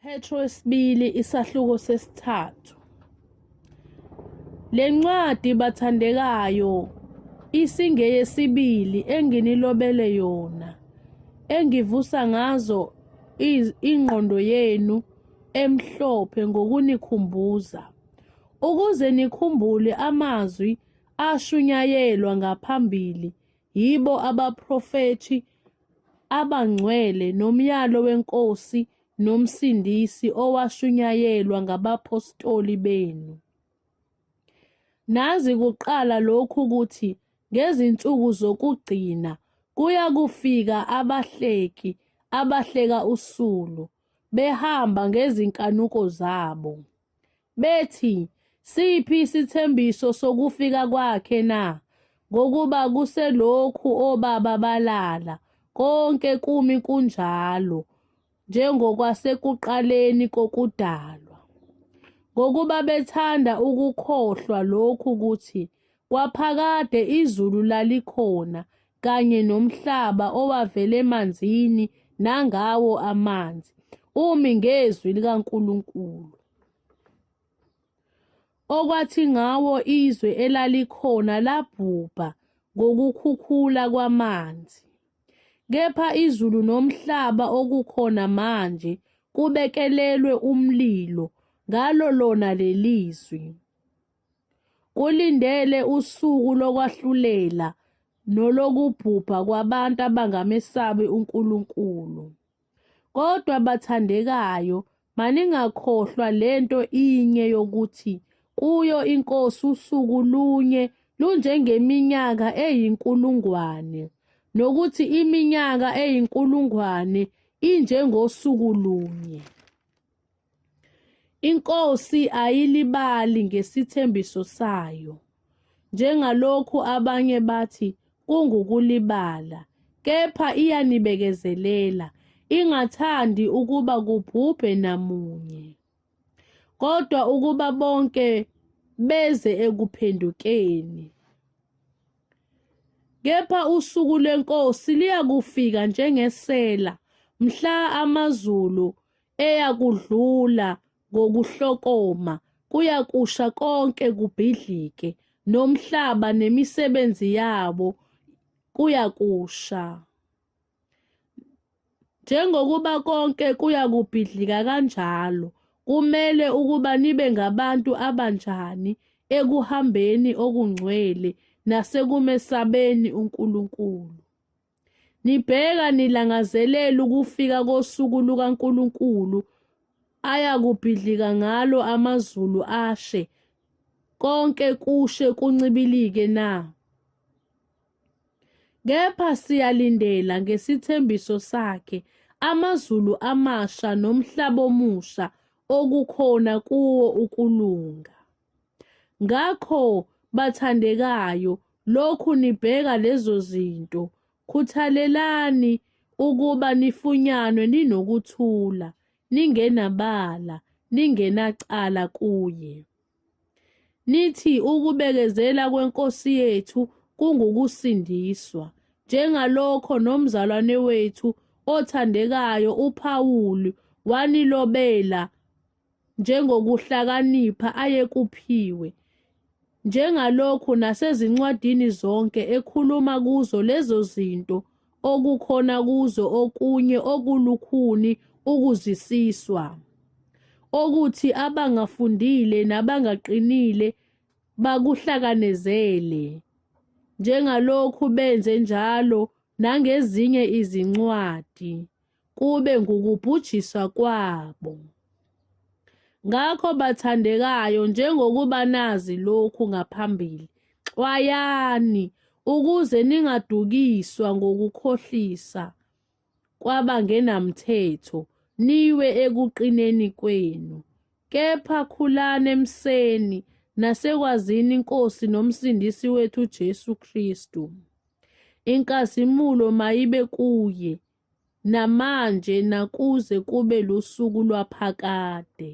Petro wesibili isahluko sesithathu. Le ncwadi bathandekayo isingeyesibili enginilobele yona engivusa ngazo ingqondo yenu emhlophe ngokunikhumbuza ukuze nikhumbule amazwi ashunyayelwa ngaphambili yibo abaprofethi abangcwele nomyalo wenkosi noMsindisi owashunyayelwa ngabaphostoli benu. Nazi kuqala lokhu ukuthi ngezinsuku zokugcina kuya kufika abahleki abahleka usulu, behamba ngezinkanuko zabo. bethi, Siphi isithembiso sokufika kwakhe na? Ngokuba kuselokhu obaba balala, konke kumi kunjalo njengokwasekuqaleni kokudalwa. Ngokuba bethanda ukukhohlwa lokhu ukuthi kwaphakade izulu lalikhona kanye nomhlaba owavela emanzini nangawo amanzi umi ngezwi likaNkulunkulu okwathi ngawo izwe elalikhona labhubha ngokukhukhula kwamanzi kepha izulu nomhlaba okukhona manje kubekelelwe umlilo ngalo lona lelizwi Kulindele usuku lokwahlulela nolokubhubha kwabantu abangamesabi uNkulunkulu. Kodwa bathandekayo, maningakhohlwa lento inye yokuthi kuyo iNkosi usuku lunye lunjengeminyaka eyinkulungwane, nokuthi iminyaka eyinkulungwane injengosuku lunye. INkosi ayilibali ngesithembiso sayo, njengalokhu abanye bathi kungukulibala, kepha iyanibekezelela, ingathandi ukuba kubhubhe namunye, kodwa ukuba bonke beze ekuphendukeni. Kepha usuku lweNkosi liyakufika njengesela, mhla amazulu eyakudlula ngokuhlokoma, kuyakusha konke kubhidlike, nomhlaba nemisebenzi yabo kuyakusha. Njengokuba konke kuyakubhidlika kanjalo, kumele ukuba nibe ngabantu abanjani ekuhambeni okungcwele nasekumesabeni uNkulunkulu. Nibheka nilangazelela ukufika kosuku lukaNkulunkulu ayakubhidlika ngalo amazulu ashe, konke kushe kuncibilike na? Kepha siyalindela ngesithembiso sakhe amazulu amasha nomhlaba omusha okukhona kuwo ukulunga. Ngakho, bathandekayo, lokhu nibheka lezo zinto, khuthalelani ukuba nifunyanwe ninokuthula, ningenabala, ningenacala kuye. Nithi ukubekezela kweNkosi yethu kungukusindiswa, njengalokho nomzalwane wethu othandekayo uPawulu wanilobela njengokuhlakanipha ayekuphiwe, njengalokhu nasezincwadini zonke ekhuluma kuzo lezo zinto okukhona kuzo okunye okulukhuni ukuzisiswa, okuthi abangafundile nabangaqinile bakuhlakanezele, njengalokhu benze njalo nangezinye izincwadi. kube ngukubhujiswa kwabo. Ngakho bathandekayo, njengokuba nazi lokhu ngaphambili, xwayani ukuze ningadukiswa ngokukhohlisa kwabangenamthetho, niwe ekuqineni kwenu. Kepha khulani emseni nasekwazini iNkosi noMsindisi wethu uJesu Kristu. Inkazimulo mayibe kuye. namanje nakuze kube lusuku lwaphakade.